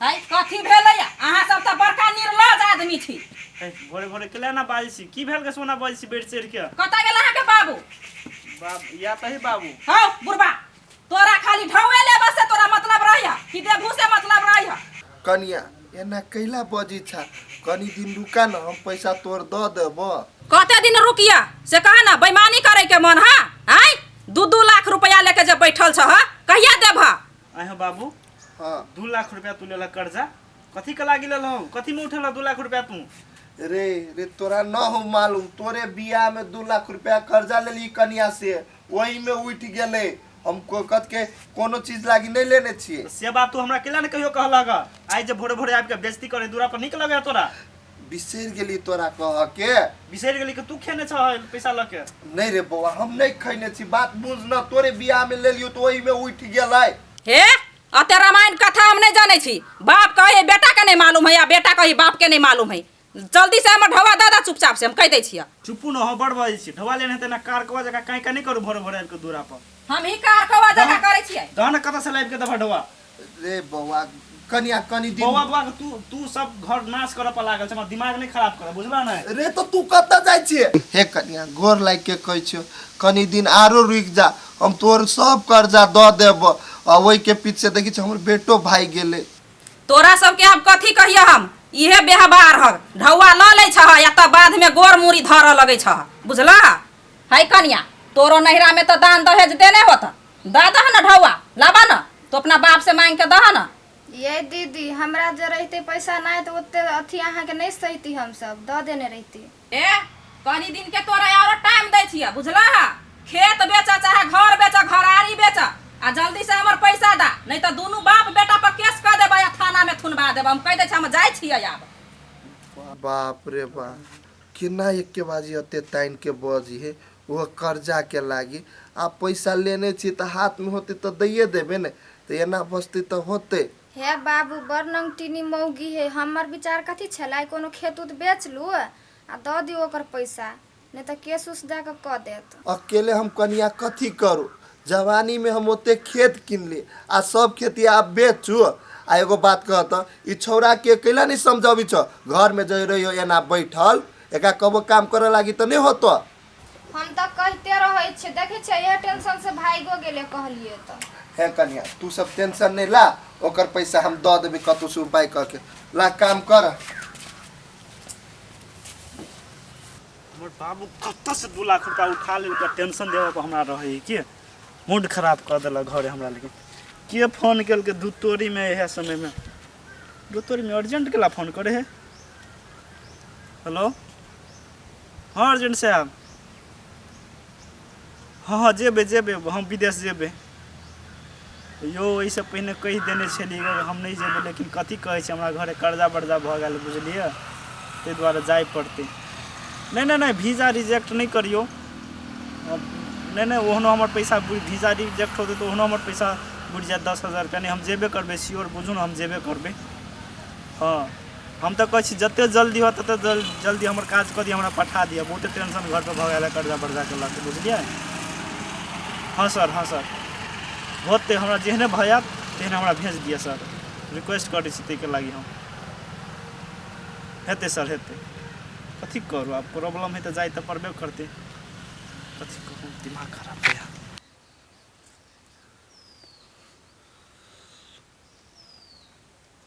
है कथी भेलै अहाँ सब तऽ बड़का निर्लज आदमी छी ए, भोरे भोरे केला ना बाजै छी की भेल के सोना बाजै छी बैठ चढ़ के कतऽ गेल अहाँके बाबू बाप या तही बाबू हौ बुढ़बा तोरा खाली ढौए लेबऽ से तोरा मतलब रहै है कि देबू से मतलब रहै है कनिया एना कैला बजी छा कनी दिन रुका न हम पैसा तोर द देब कते दिन रुकिया से कहा ना बेईमानी करे के मन है आय दू दू लाख रुपया लेके जे बैठल छह कहिया देबह आय हो बाबू हाँ दू लाख रुपया तू लेला कर्जा कथी के लागी लेला हो कथी में उठेला दू लाख रुपया तू रे रे तोरा न हो मालूम तोरे बियाह में दू लाख रुपया कर्जा लेली कनिया से वही में उठ गेले हम कोकत के कोनो चीज लागी नहीं लेने छिए से बात तू हमरा केला ने कहियो कहला गा आय जे भोरे भोरे आबि के बेइज्जती करे दूरा पर निक लगे तोरा बिसरि गेली तोरा कह के बिसरि गेली कि तू खेने छ पैसा लऽ के नहीं रे बौआ हम नहीं खैने छी बात बुझ न तोरे बियाह में ले लियो तो ओही में उठ गेलै हे अते रामायण कथा हम नहीं जाने छी बाप कहे बेटा के नहीं मालूम है या बेटा कहे बाप के नहीं मालूम है जल्दी से हमर ढवा दादा चुपचाप से हम कह दे छिया चुपू न हो बड़ बाजै छी ढवा लेने हेतै ना कार कवा जका काई का नहीं करू भोरे भोरे आबि के दूरा पर हम ही कार कवा जका करे छियै दहन कतऽ से लाबि के दबा ढवा रे बौआ कनिया कनी दिन बौआ बौआ तू तू सब घर नाश करऽ पर लागल छै हमर दिमाग नहि खराब करऽ बुझलऽ ने रे तो तू कत जाइ छिए हे कनिया गोर लागि के कहै छियो कनी दिन आरो रुक जा हम तोहर सब कर्जा द देब आ ओहि के पीछे देखी छ हमर बेटो भागि गेलै तोरा सबके आब कथी कहिए हम इहे व्यवहार हक ढौआ लऽ लै छह या तऽ बादमे गोर मूड़ी धरऽ लगै छह बुझलह है कनिया तोरो नैहरामे तऽ दान दहेज देने होतऽ दा दह न ढौआ लाबा न तो अपना बाप से मांग के दह न ये दीदी हमरा जे रहते पैसा नहीं तो ओते अथी अहाँ के नहीं सहती हम सब द देने रहती ए कनी दिन के तोरा और टाइम दै छिया बुझला है खेत बेचा चाहे घर बेचा घरारी बेचा आ जल्दी से हमर पैसा दा नहीं तो दोनों बाप बेटा पर केस कर देबे आ थाना में थुनवा देबे हम कह दे छी हम जाय छियै आब बाप रे बाप केना एक्केबाजी अत्ते तानि के बजहे ओहो कर्जा के लागि? आब पैसा लेने छी त हाथ मे होतै त दइये देबै ने। त एना बजतै त होतै? हे बाबू, बड़ नंगटिनी मौगी हे। हम्मर विचार कथी छेलै? कोनो खेत-उत बेच लू आ द दियौ ओकर पैसा। नै त केस-उस द क क देत। अकेले हम कनिया कथी करू? जवानी में हम ओते खेत किनली आ सब खेती आप बेच चु आ एगो बात कहत ई छौरा के कैला नहीं समझावी छ घर में जय रही हो या ना बैठल एका कबो काम करे लागी तो नहीं होतो हम तो कहते रहे छे देखे छे यह टेंशन से भाईगो गेले कहलिए तो है कन्या तू सब टेंशन नहीं ला ओकर पैसा हम दे देबे कतु से उपाय करके ला काम कर हमर बाबू कतऽ से दू लाख रुपया उठा लेल के टेंशन देवे पर हमरा रहे के मूड खराब कर देलक घरे हमरा लेकिन के फोन कल के दुतोरी में यह समय में दुतोरी में अर्जेंट केला फोन करे है हेलो हाँ अर्जेंट साहब हँ हँ जेबै जेबै हम विदेश जेबै यौ एहिसँ पहिने कहि देने छलियै हम नहि जेबै लेकिन कथी कहै छै हमरा घरे कर्जा वर्जा भऽ गेल बुझलियै ताहि दुआरे जाय पड़तै नहि नहि नहि वीजा रिजेक्ट नहि करियौ नहि नहि ओहनो हमर पैसा वीजा रिजेक्ट होतै तऽ ओहनो हमर पैसा बुढ़ि जायत दस हजार रुपैआ नहि हम जेबे करबै सियोर बुझू ने हम जेबे करबै हँ हम तऽ कहै छी जते जल्दी हो तते जल्दी हमर काज कऽ दिअ हमरा पठा दिअ बहुते टेंशन घरपर भऽ गेल है कर्जा बर्जा के लऽ के बुझलियै हँ सर हँ सर होते हमरा जेहने भऽ जायत तेहने हमरा भेज दिअ सर रिक्वेस्ट करै छी ताहिके लागि हम हेतै सर हेतै कथी करू आब प्रॉब्लम है तऽ जाइ तऽ पड़बे करतै कथी कहू दिमाग खराब भऽ जायत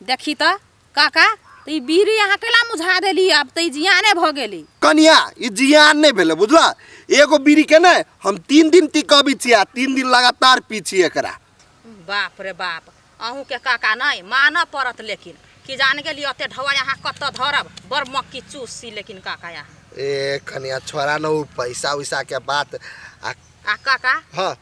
देखी तऽ काका तऽ ई बीड़ी अहाँ कैला मुझा देली आब तऽ ई जियाने भऽ गेली कनिया ई जियान नहीं भेले बुझला एगो बीड़ी के ने हम तीन दिन ती कभी छिया तीन दिन लगातार पी छी एकरा बाप रे बाप अहूँ के काका नहीं मानऽ पड़त लेकिन कि जान गेली ओते ढवाई अहाँ कतऽ धरब बड़ मक्की चूस सी लेकिन काका यहाँ ए कनिया छोरा न उ पैसा उसा के बात आ आ काका हाँ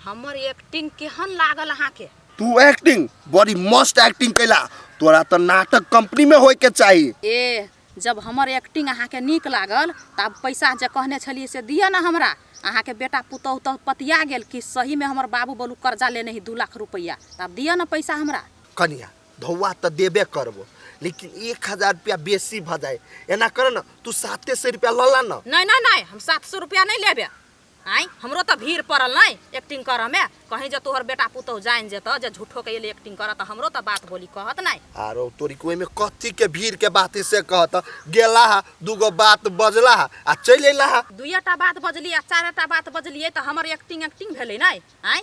हमर एक्टिंग केहन लागल अहाँके तू एक्टिंग बड़ी मस्त एक्टिंग कैला तोरा तो नाटक कंपनी में होय के चाहिए ए जब हमर एक्टिंग अहाँके नीक लागल तऽ आब पैसा जे कहने छलियै से दिअ ने हमरा अहाँके बेटा पुतहु तऽ पतिया गेल कि सहीमे हमर बाबू बोलू कर्जा लेने ही दू लाख रुपैआ तऽ आब दिअ ने पैसा हमरा कनिया धौआ तऽ देबे करबो लेकिन एक हजार रुपया बेसी भऽ जाए एना कर न तू साते सौ रुपया लऽ ला न नहि नहि नहि हम सात सए रुपैआ नहि लेबे आँय हमरो तऽ भीड़ पड़ल नहि एक्टिंग करऽमे कहीं जे तोहर बेटा पुतहु जानि जेतऽ जे झूठोके एलै एक्टिंग करऽ तऽ हमरो तऽ बात बोली कहत नहि आरो तोरी के ओहिमे कथी के भीड़ के बात है से कहत गेला हा दूगो बात बजला हा आ चलि अयला हा दुइए टा बात बजली आ चारे टा बात बजलियै तऽ हमर एक्टिंग एक्टिंग भेलै नहि आँय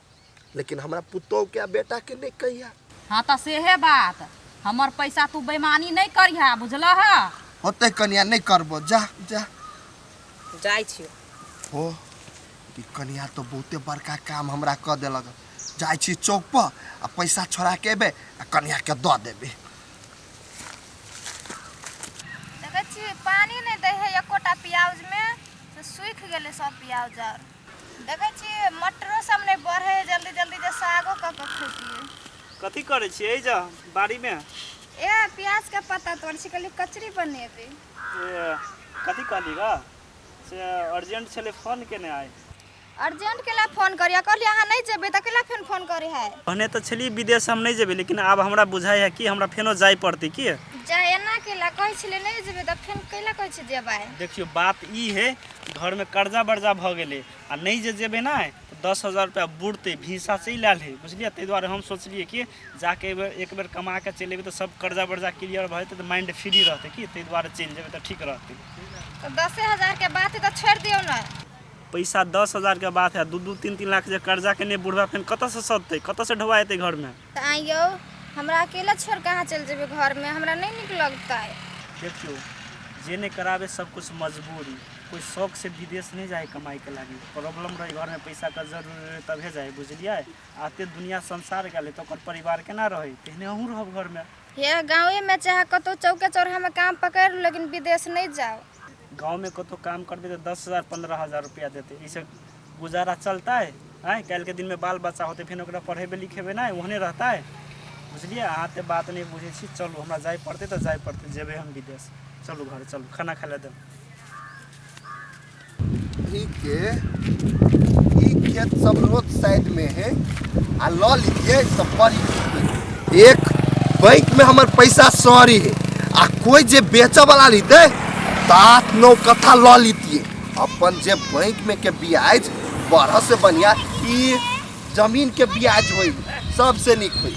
लेकिन हमरा पुतोह के आ बेटा के नहीं कहिया हाँ तो सेहे बात हमर पैसा तू बेमानी नहीं करिहा बुझल है होते कनिया नहीं करबो जा जा जाय छियो हो ई कनिया तो बहुते बड़का काम हमरा क देलक जाइ छी चौक पर आ पैसा छोड़ा के एबे आ कनिया के दऽ देबे देखै छी पानी नहीं दे है एकोटा प्याज में से सूख गेलै सब प्याज आर देखै छी मटरो सब नहि बढ़े जल्दी जल्दी जे सागो कऽ कऽ खैतियै कथी करै छियै एहि जा बाड़ीमे ए प्याज के पत्ता तोड़ै छी कहलियै कचरी बनेबै से कथी कहली ग से अर्जेंट छलै फोन केने आइ अर्जेंट के लए फोन करिया कहलियै अहाँ नहि जेबै तऽ केला फेन फोन करै है कहने तऽ छली विदेश हम नहि जेबै लेकिन आब हमरा बुझाइ है कि हमरा फेनो जाय पड़तै की जा एना केला कहै छलै नहि जेबै तऽ फेन कैला कहै छी जेबै देखियो बात ई है घर में कर्जा वर्जा भ गेले आ नहीं जे जेबे ना तो दस हजार रुपया बुड़ते भीसा से ही लाल है बुझलिए ताहि दुआरे हम सोचलिए कि जाके एक बेर एक बेर कमा के चलि एबै तऽ सब कर्जा वर्जा क्लियर भऽ जेतै तऽ माइंड फ्री रहतै कि ताहि दुआरे चलि जेबै तऽ ठीक रहतै तो दसे हजार के बात है तो छोड़ दियो ना पैसा दस हजार के बात है दू दू तीन तीन लाख जे कर्जा केने बुढ़वा फेन कतऽ से सधतै कतऽ से ढोआ एतै घर में तऽ आँय यौ हमरा अकेला छोड़ कहाँ चलि जेबै घरमे हमरा नहि नीक लगतै देखियौ जे नहि कराबे सब कुछ मजबूरी कोई शौक से विदेश नहीं जाए कमाई के लागी प्रॉब्लम रहे घर में पैसा का जरूरी रहे तबे जाए बुझलिए आते दुनिया संसार गेले तो ओकर परिवार केना रहे तेहने अहूँ रहब घर में हे गाँवेमे चाहे कतहु चौके चौराहामे काम पकड़ि लू लेकिन विदेश नहि जाउ गाँवमे कतहु काम करबै तऽ दस हजार पन्द्रह हजार रुपैआ देतै एहिसँ गुजारा चलतै आँय काल्हिके दिनमे बाल बच्चा होतै फेर ओकरा पढ़ेबै लिखेबै नहि ओहने रहतै बुझलियै अहाँ तऽ बात नहि बुझै छी चलू हमरा जाय पड़तै तऽ जाय पड़तै जेबै हम विदेश चलू घर चलू खाना खाय लए देब के ई खेत सब रोड साइड में है आ लऽ लीजिए सब बड़ी चीज। एक बैंक में हमर पैसा सॉरी है आ कोई जे बेचे वाला रहते तो आठ नौ कथा लऽ लीतिए अपन जे बैंक में के ब्याज बढ़ से बढ़िया ई जमीन के ब्याज होई सबसे नीक होई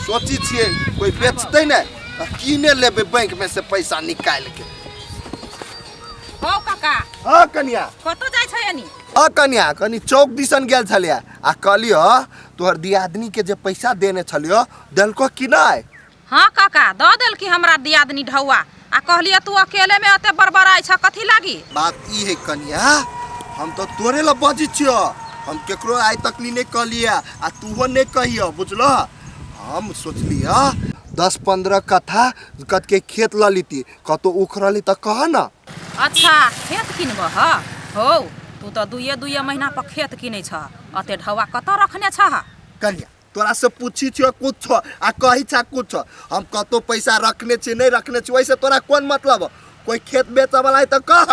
सोची छिए कोई बेचते ने तऽ कीने लेबे बैंक में से पैसा निकाल के ओ काका हँ कनिया कतौ जाइ छै यानी अ कन्या कनी चौक दिसन गेल छलिय आ कहलियो तोहर दियादनी के जे पैसा देने छलियो देलको कि नहीं हाँ काका दऽ देलकी हमरा दियादनी ढौआ आ कहलिए तू अकेले में एते बड़बड़ाइ छ कथी लागी बात ई है कन्या हम तो तोरे ला बजी छियो हम केकरो आइ तक नी नहीं कहलिए आ तूहो नहीं कहियो बुझलो हम सोचलिए दस पंद्रह कट्ठा कट के खेत ल लीती कतो उखड़ल त कह ना अच्छा खेत किनबऽ ह हौ तू तऽ दुइए दुइए महीना पर खेत किनै छह अते ढौआ कतऽ रखने छह कन्या तोरा से पूछी छियो कुछ आ कही छा कुछ हम कतो पैसा रखने छी नहीं रखने छी वैसे तोरा कौन मतलब है? कोई खेत बेचे वाला है तो कह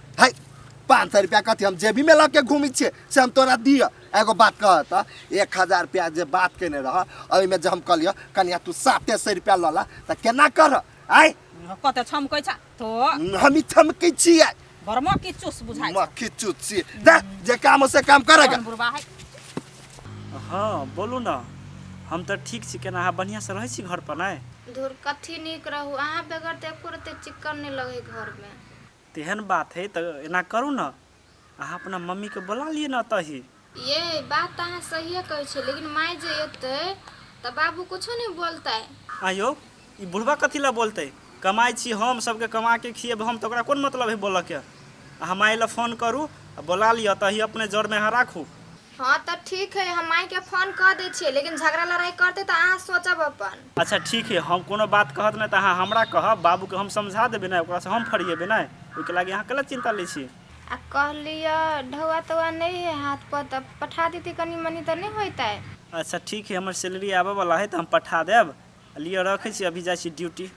है पाँच सौ रुपया कथी हम जेबी में लग के घूमी छे से हम तोरा दिय एगो बात कह त एक हजार रुपया जे बात केने रह अभी में जे हम कहलियो कनिया तू साते सौ रुपया लला त केना कर आय कते छमकै छ तो हम ई थमकी छियै भरमा की चुस बुझाइ म खिचु छी जा जे काम हो से काम करेगा कौन बुढ़वा है हाँ बोलू ना हम तो ठीक छी केना अहाँ बढ़िया से रहे छी घर पर ना धुर कथी नीक रहू अहाँ बगैर तऽ एको रत्ती चिक्कन नहि लगै घरमे तेहन बात हइ तऽ एना करू ने अहाँ अपना मम्मीके बोला लिअ ने एतहि यै बात तऽ अहाँ सहिए कहै छियै लेकिन माय जे एतै तऽ बाबू कुछो नहि बोलतै आँय यौ ई बुढ़बा कथी लए बोलतै कमाइ छी हम सभके कमा के खिएबै हम तऽ ओकरा कोन मतलब हइ बोलऽके अहाँ माय लए फोन करू आ बोला लिअ एतहि अपने जरमे अहाँ राखू हँ तऽ ठीक है हम माई के फोन कऽ दै छियै लेकिन झगड़ा लड़ाई करते तऽ अहाँ सोचब अपन अच्छा ठीक है हम कोनो बात कहत नहि तऽ अहाँ हमरा कहब बाबू के हम समझा देबे ने ओकरा से हम फरिएबे ने ओहिके लागी अहाँ कला चिंता ले छी आ कह लिअ ढौआ तौआ नहीं है हाथ पर तऽ पठा देती कनी मनी तऽ नहीं होते अच्छा ठीक है हमर सैलरी आबे वाला है तऽ हम पठा देब लिअ रखे छी अभी जाइ छी ड्यूटी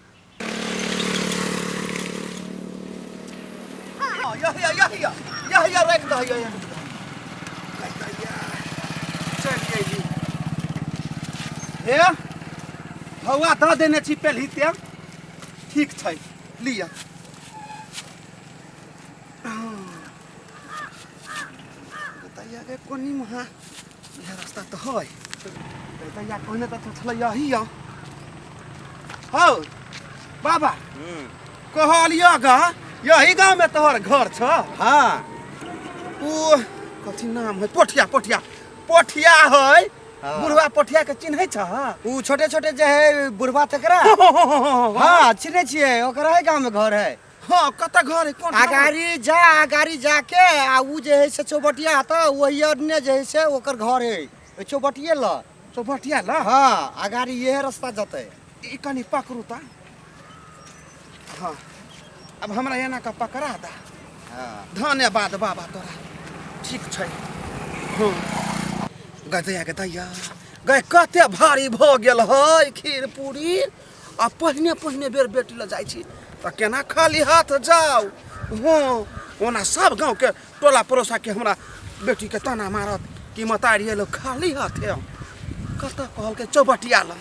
हे हवा दऽ देने छी पेलही तें ठीक छै लिअ बताइए कोनी महा इएह रास्ता तऽ है तहिया पहिने तऽ छलै यही यौ हौ बाबा कहलियो गा यही गाँव में तोहर घर छ हाँ ओ कथी नाम है पोठिया पोठिया पोठिया है हाँ। बुढ़वा पोठिया के चिन्है छ उ छोटे छोटे जे है बुढ़वा तकरा हाँ चिन्है छियै ओकर है गाँव में घर है हाँ कत घर है कौन अगाड़ी जा अगाड़ी जाके आ उ जे है से चौबटिया हत वही अन्य जे है से ओकर घर है ओइ चौबटिये ल चौबटिया ल हाँ अगाड़ी यह रास्ता जते ई कनी पकड़ू ता हाँ अब हमरा एना का पकड़ा दा हाँ धन्यवाद बाबा तोरा ठीक छै हाँ गदया गदया गए कते भारी भऽ गेल है खीर पूरी आ पहिने पहिने बेर बेटी लग जाइ छी तऽ केना खाली हाथ जाउ हँ ओना सब गाँवके टोला पड़ोसाके हमरा बेटीके ताना मारत कि मतारी एलो खाली हाथे कतऽ कहलकै चौबटिया लग